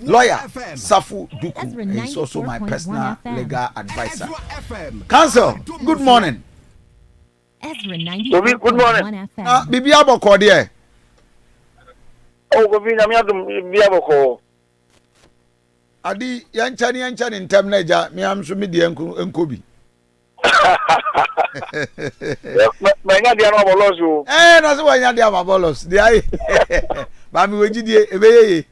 Lawyer Safu Duku is also my personal legal adviser. Council, good morning. Obi, good morning. Na bibi abɔkɔ deɛ. Oh, Kofi, nyame adum bibi abɔkɔ. Adi, yɛnkyɛ ne yɛnkyɛ ne ntɛm na agya, me am so me deɛ nko bi. manya deɛ no abɔlɔs o ɛɛ na sɛ wanya deɛ ama bɔlɔs deɛ ayɛ maame wɔ gyidie ɛbɛyɛ ye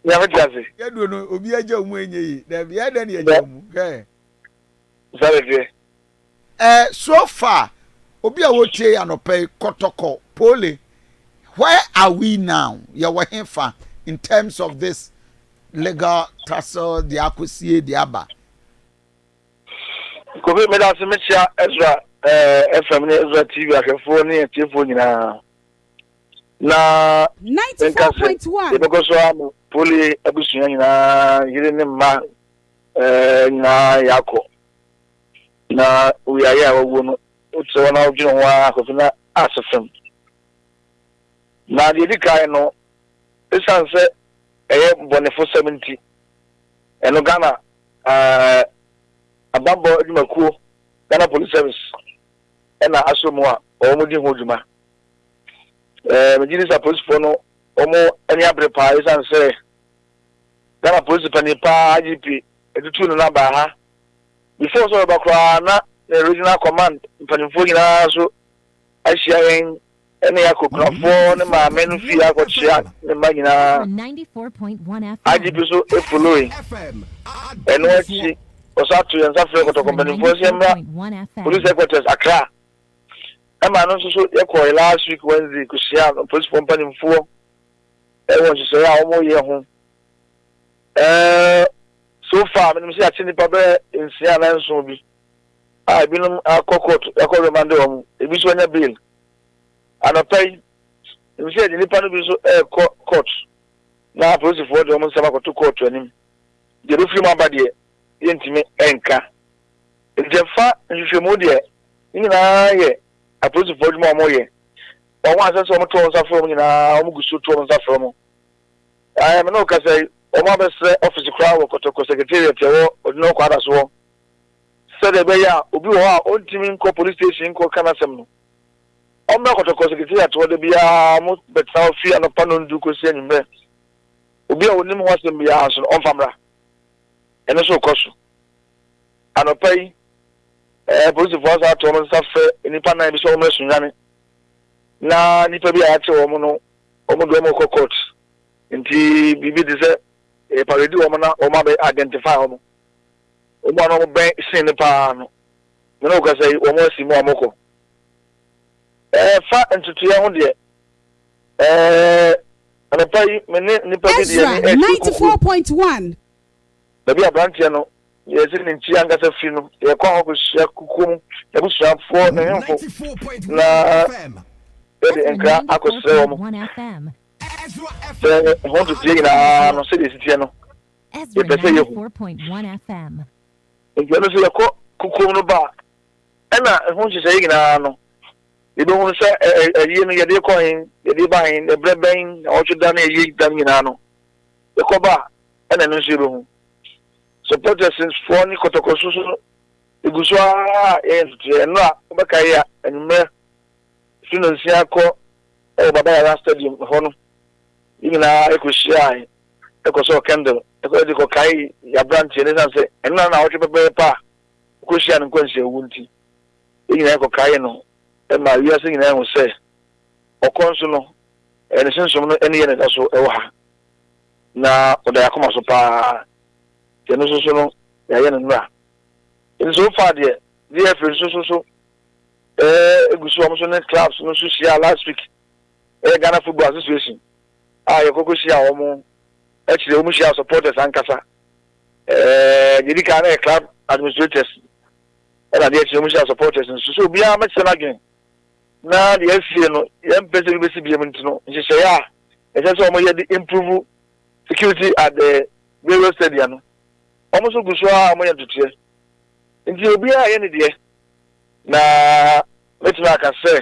nyame te ase yɛduo no obi agya mu ɛnyɛ ye daabi ɛyɛ dɛ ne yɛgya mu hwɛ sare deɛ ɛɛ so far obi a wɔtie yɛ anɔpɛ yi kɔtɔkɔ pole where are we now yɛwɔ he fa in terms of this legal tussle deɛ akɔsie deɛ aba Kofi, medase mekyea Ezra FM ne Ezra TV ahwɛfoɔ ne atiefoɔ nyinaa. Na menka sɛ yɛbɛkɔ so ara ma Poli abusua nyinaa, yere ne mma nyinaa yɛakɔ. Na owiaeɛ a wawuo no, wokyerɛ wɔn na wodwene ho ara Kofi na ase fam. Na deɛ ɛdi kan no, ɛsiane sɛ ɛyɛ bɔnefosɛm nti, Ɛno Ghana Abanbɔ Adwumakuo, Ghana Police Service, na asɔ mu a wɔdi ho dwuma. Megye di sɛ apolisifoɔ no wɔn ani abere paa ɛsiane sɛ Ghana polisi panin paa IGP atutu no na baa ha. Before sɛ ɔreba koraa na ne regional command mpanimfoɔ nyinaa nso ahyia yɛn Ɛnna Yakob nuafoɔ ne maame no fii hɔ kɔkyea ne mma nyinaa, agye bi nso Efuloe. Ɛno akyi, wɔsan too yɛn nsa frɛɛ kɔtɔkɔ mpanimfoɔ sɛ yɛmmra Police Headquarters, Accra. Ɛma ɛno nso so yɛkɔe last week Wednesday kɔhyiaa apolisifoɔ mpanimfoɔ wɔ nhyehyɛeɛ a wɔreyɛ ho. So far, menim sɛ yɛakye nnipa bɛyɛ nsia anaa nson bi. a ebinom akɔ court akɔ remande wɔn, ebi nso anya bail. Anɔpa yi, nim sɛ yɛde nnipa no bi nso rekɔ court na apolisifoɔ de wɔn nsɛm akɔto kɔɔto anim. Deɛ ɛbɛfiri mu aba deɛ, yɛntumi nka. Enti ɛfa nhwehwɛmu deɛ, ne nyinaa yɛ apolisifoɔ adwuma a wɔyɛ. Wɔn a ɛsɛ sɛ wɔto wɔn nsa frɛ wɔn nyinaa, wɔgu so to wɔn nsa frɛ wɔn. Ɛɛ, me ne wo kasa yi, wɔabɛsrɛ ɔfese koraa wɔ Kɔtɔkɔ Secretariat a ɛwɔ Odino Kwadaso hɔ. sɛdeɛ ɛbɛyɛ a obi wɔ hɔ a ɔntumi nkɔ police station nkɔka n'asɛm no, ɔmmra Kɔtɔkɔ Secretariat hɔ da biara wɔbɛtena hɔ firi anɔpa nnɔnndu kɔsi anwummerɛ. Obi a ɔnim ho asɛm biara nso no, ɔmfa mmra. Ɛno nso rekɔ so. Anɔpa yi, eh, polisifoɔ asan ato wɔn nsa frɛ nnipa nnan bi sɛ wɔmmra Sunyani. Na nnipa bi a yɛate wɔn no, wɔn de wɔn rekɔ court. Nti biribi te sɛ eh, parade wɔn na wɔn abɛ identify wɔn. Wɔn a na wɔbɛn sen no pa ara no, me ne wo kasa yi, wɔasi mu a wɔkɔ. Ɛfa ntotoeɛ ho deɛ, ɛɛ, anɔpa yi me ne nnipa bi de yɛn ani rekyerɛ kukuo. Ezra 94.1. Baabi a aberanteɛ no yɛsi ne nkyia ankasa firi no, yɛkɔ hɔ kɔhyia kukuo mu abusuafoɔ, ne nhemfo, na yɛde nkra akɔsrɛ wɔn. Sɛ ɛho ntotoeɛ nyinaa no, sɛdeɛ ɛsi teɛ no. yɛpɛ sɛ yɛhu. Nti ɛno nso yɛkɔ kokoam no ba a, ɛna ɛho nhyehyɛeɛ nyinaa no, yɛbɛhunu sɛ ayie no yɛde kɔ he, yɛde ba he, ɛberɛ bɛn, awɔtwe da ne ayie da no nyinaa no, yɛkɔ ba a, ɛna ɛno nso yɛbɛhu. So Protestantfoɔ ne kɔtɔkɔso so no, ɛgu so ara a yɛyɛ ntotoeɛ. Ɛno a wobɛka yɛ a, anwummerɛ firi nnɔnsia kɔ wɔ Baba Yara Stadium hɔ no, Yɛn nyinaa kohyiae kɔsɔɔ kɛndɛl kɔɔ adi kɔkaee yɛn aberanteɛ no ɛsiane sɛ ɛno na na awɔtwe pɛpɛɛpɛ a ɔkɔhyiaa no nkwanhyia wu nti. Yɛn nyinaa kɔkaee no maa wiase nyinaa hu sɛ ɔkɔ nso no, ne sunsum no ne yɛn na ɛda so wɔ ha, na ɔda yɛn akoma so paa. Yɛn nso so no, yɛayɛ no nnora. Enti so far deɛ, DFA nso so so gu so, wɔn nso ne clubs no nso hyiaa last week. Ɛyɛ Ghana Football Association a yɛkɔkɔ hyia wɔn, akyire wɔn hyia supporters ankasa. Ɛɛ yɛdi kan na yɛ club administrators ɛna deɛ akyire wɔn hyia supporters nso. So obiara mɛkyerɛ n'adwene na deɛ asie no yɛn mpɛ sɛ bi bɛsi biam nti no nhyehyɛeɛ a ɛsɛ sɛ wɔn yɛ de improve security at the various stadium no wɔn nso gu so a wɔn yɛ ntotoɛ nti obiara yɛ ne deɛ na mɛtumi aka sɛ.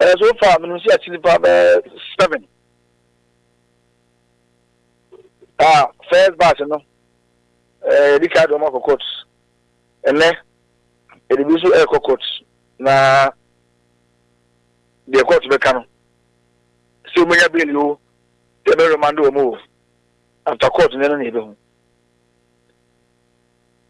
Ɛɛ so far menim sɛ yɛakyi nipa bɛyɛ seven a first batch no ɛɛ yɛde kaa de wɔn akɔ court ɛnɛ yɛde bi nso ɛrekɔ court na deɛ court bɛka no sɛ wɔn anya bail o sɛ ɛbɛ remand wɔn o after court no ɛno na yɛbɛhu.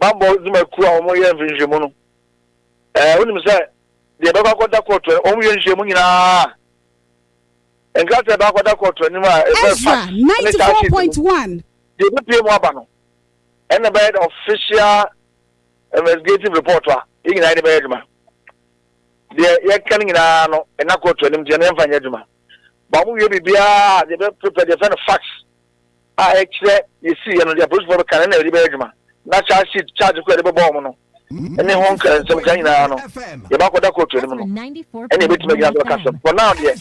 bammɔ dwumakuo a wɔyɛ nhwehwɛmu no, ɛɛ wonim sɛ deɛ ɛbɛkɔ akɔda kɔɔto a wɔyɛ nhwehwɛmu nyinaa nkrataa ɛbɛkɔ akɔda kɔɔto anim a ɛfɛ Ezra ninety four point one. Deɛ ɛbɛpie mu aba no ɛna ɛbɛyɛ the official investigative report a yɛn nyinaa yɛde bɛyɛ adwuma deɛ yɛka no nyinaa no ɛna kɔɔto anim deɛ no yɛmfa nyɛ adwuma ba wɔn wie biribiara deɛ ɛbɛpepɛ deɛ ɛfɛ no fax. a ɛkyerɛ nea esiiɛ no, deɛ apolisifoɔ bɛka no, ɛna yɛde bɛyɛ adwuma. Na charge sheet, charge ko a yɛde bɛbɔ wɔn no, ne ho nka nsɛmka nyinaa no, yɛbɛakɔda kootu anim no, ɛna yɛbɛtumi agyina so aka asɛm. For now deɛ,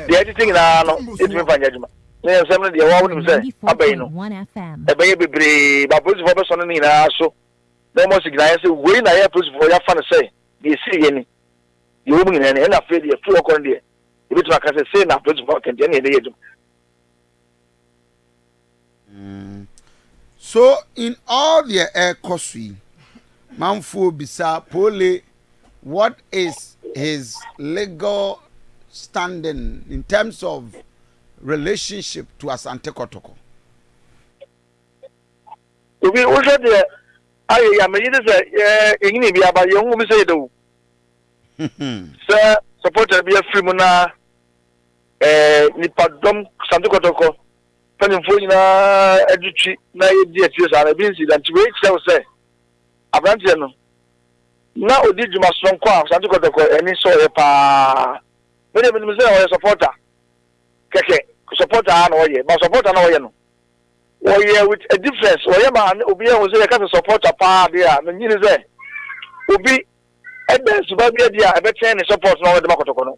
deɛ ɛtete nyinaa no, yɛntumi mfa nyɛ adwuma. Ne nsɛm no deɛ, wo ara wonim sɛ aba yi no, ɛbɛyɛ bebree, but apolisifoɔ bɛsɔne ne nyinaa so na wɔasi gyinaeɛ sɛ wei na yɛn apolisifoɔ yɛafa no sɛ deɛ esiiɛ ni, deɛ ɛwɔ mu nyinaa ni, ɛna afei deɛ firi hɔ kɔ no deɛ, yɛbɛtumi aka sɛ sei na apolisifoɔ aka nti, ɛna yɛde yɛ adwuma. Mm. So in all deɛ ɛrekɔ so yi, manfoɔ bisa Pole what is his legal standing in terms of relationship to Asante Kɔtɔkɔ? Obi wohwɛ deɛ ayɛ yi a megye de sɛ yɛnyini bi aba yɛhu bi sɛ yɛda wu. Sɛ supporter bi afiri mu na Nnipadɔm santekɔtɔkɔ mpanimfoɔ nyinaa de twi na yɛdi akyire saa no, ebi nsi da nti wei kyerɛ wo sɛ aberanteɛ no, na ɔdi dwuma sononko a santekɔtɔkɔ ani sɔɔ yɛ pa ara. Me deɛ menim sɛ ɔyɛ supporter kɛkɛ, supporter ara na ɔyɛ, but supporter na ɔyɛ no, ɔyɛ with a difference, ɔyɛ ma obiara hu sɛ yɛka sɛ supporter pa ara deɛ a, megye di sɛ obi da asuba bi adi a ɛbɛkyɛn ne support na ɔde ma kɔtɔkɔ no.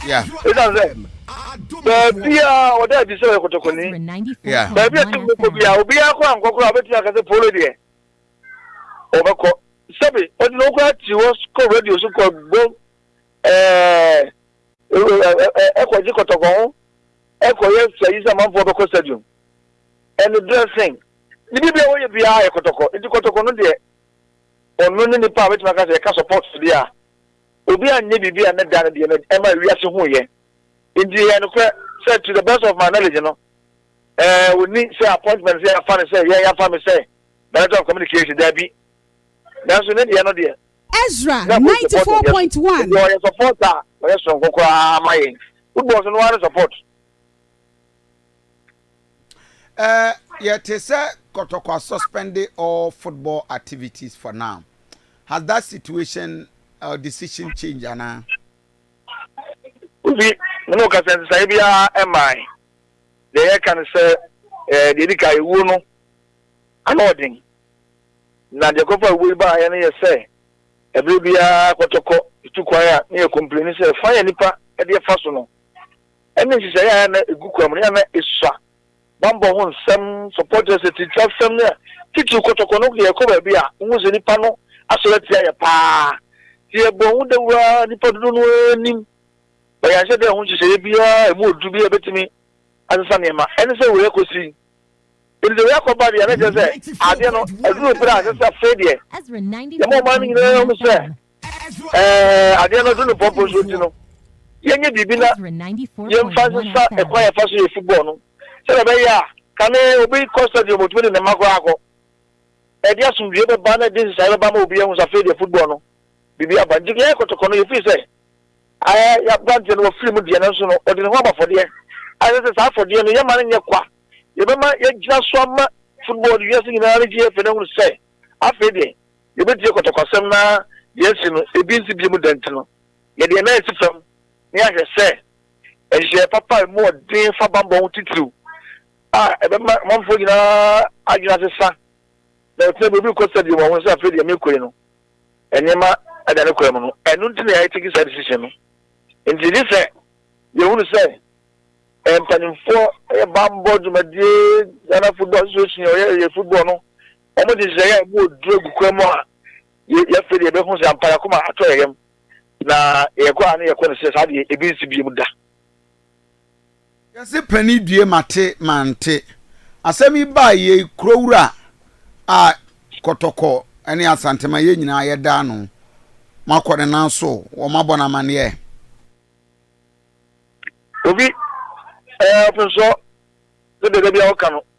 Esiane sɛ baabi a ɔda adi sɛ ɔyɛ kɔtɔkɔni, baabi a ɛsɛ ɔkɔ biara, obiara kora nkɔ koraa ɔbɛtumi aka sɛ Polo deɛ ɔbɛkɔ. Sɛbe ɔde ne ho koraa ti hɔ kɔ radio so kɔ bɔ ɛɛ ɛkɔgye kɔtɔkɔ ho ɛkɔyɛ sɛyi sɛ amanfoɔ bɛkɔ stadium ɛne dressing ne biribi a wɔyɛ biara yɛ kɔtɔkɔ. Nti kɔtɔkɔ no deɛ ɔno ne nipa a bɛtumi aka sɛ ɛka support deɛ a. Obi anyɛ biribi a ne da no deɛ no ɛma wiase huiɛ. Nti ɛyɛ nokorɛ sɛ to the best of my knowledge no ɛɛ wɔnni sɛ appointment sɛ yɛafa no sɛ yɛn yɛafa me sɛ Director of Communication, daabi. Nanso ne deɛ no deɛ. Ezra ninety four point one. Nti ɔyɛ support a ɔyɛ sononko koraa ma yɛn. Football nso no ara ne support. Eh, yɛ te sɛ kɔtɔkwa suspende all football activities for now. Has that situation or decision changed anaa? Kofi, me ne wo kasa, nsesaeɛ biara mmae. Deɛ yɛka ne sɛ, eh, deɛ ɛdi kan, awuo no, ano yɛ den. Na deɛ ɛkɔfa awuo yi baeɛ no yɛ sɛ, ɛberɛ biara kɔtɔkɔ tu kwan a na yɛ complaini sɛ, fa yɛ nnipa deɛ fa so no, ne nhyehyɛe a na egu kwam no, yɛ a na esua bammɔ ho nsɛm, supporters atirimsasɛm ne titiriw kɔtɔkɔ no yɛ kɔ baabi a wohu sɛ nnipa no asɔre atia yɛn paa. Sɛ yɛbɔ ho dawuru a, nnipa dodow no ara nnim, ma yɛanhyɛ da anhu nhyehyɛe biara a emu oduru bi a ebetumi asesa nneɛma. Ɛne sɛ wei akosi. Enti sɛ wei akɔ ba deɛ, na ɛkyerɛ sɛ ade no aduru bere a ɛsɛ sɛ afei deɛ yɛma ɔman no nyinaa hu sɛ Ɛɛ, adeɛ no so no pɔmpɔ nso nti no, yɛnyɛ biribi na yɛmfa nsesa ɛkwan yɛfa so yɛ football no sɛdeɛ ɛbɛyɛ a kane obi kɔ stadium ɔtumi de ne mma koraa akɔ. Ɛde asomdwoeɛ bɛba na ɛde nsesaeɛ bɛba ma obi ahu sɛ afei deɛ football no biribi aba. Nti yɛyɛ kɔtɔkɔ no yɛfiri sɛ ayɛ yɛaberanteɛ no wafiri mu deɛ nanso no ɔde ne ho aba afɔdeɛ a ɛsɛ sɛ saa afɔdeɛ no yɛma no nyɛ kwa. Yɛbɛma yɛagyina so ama football no wiase nyinaa no gye yɛn fɛ no ahunu sɛ afei deɛ Yɛbɛtie kɔtɔkwasɛm no ara de asi no ebi nti bio mu dɛn nti no, yɛde yɛn nan asi fam na yɛahwɛ sɛ nhyehyɛeɛ papa a ɛmu ɔden fa bammɔ ho titiriw a ɛbɛma ɔmanfoɔ nyinaa adwene asesa na wɔatumi abu biribi kɔ so bio ma wɔahunu sɛ afei deɛ merekɔ yi no nneɛma ada ne kwan mu no. Ɛno nti na yɛatake saa decision no. Enti gye sɛ yɛhunu sɛ mpanimfoɔ yɛ bammɔ dwumadie, Ghana Football Association, ɔyɛ yɛ football no, Wɔn nhyehyɛe a emu wɔ duru gu kwan mu a yɛafei de yɛbɛhu sɛ ampa yɛn akoma atɔ yɛn yam, na yɛkɔ a na yɛkɔ no sɛ saa deɛ ebi nsi bio da. Yɛse pani due mate mante. Asɛm yi baa yei Kurowura a Kɔtɔkɔ ne Asantema yɛn nyinaa yɛda ano. Moakɔ ne nan so wɔ moabɔ no amanneɛ. Obi, ɛɛ, ɔpensɔ, sɛdeɛ da biara woka no.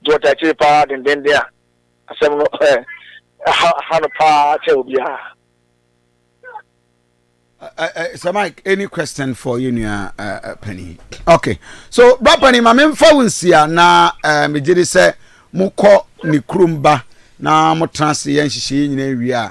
nti wɔtaa akyire paa dendenden a asɛm no ha no paa kyɛ obiara. Uh, uh, uh, Sir Mike, any question for you, uh, uh, Penny? Okay. So, Brad Penny, my main phone here now, uh, me did say, Moko Nikrumba, now Motransi and Shishi in area.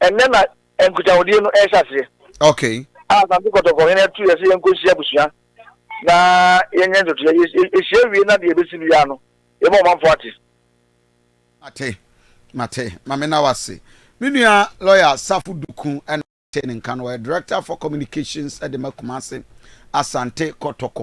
Ɛnnɛ na nkutahodie no rehyɛ aseɛ. Okay. A Asante Kɔtɔkɔ hene tu yɛ sɛ yɛnkɔ nhyia abusua na yɛnyɛ ntotoeɛ. Yɛhyia wie na deɛ ɛbɛsi biara no, yɛma ɔmanfoɔ ate. Mate, mate. Ma me na wase. Me nua lawyer Safo Duku na te ne nka no. Ɔyɛ director for communications de ma Kumasi Asante Kɔtɔkɔ.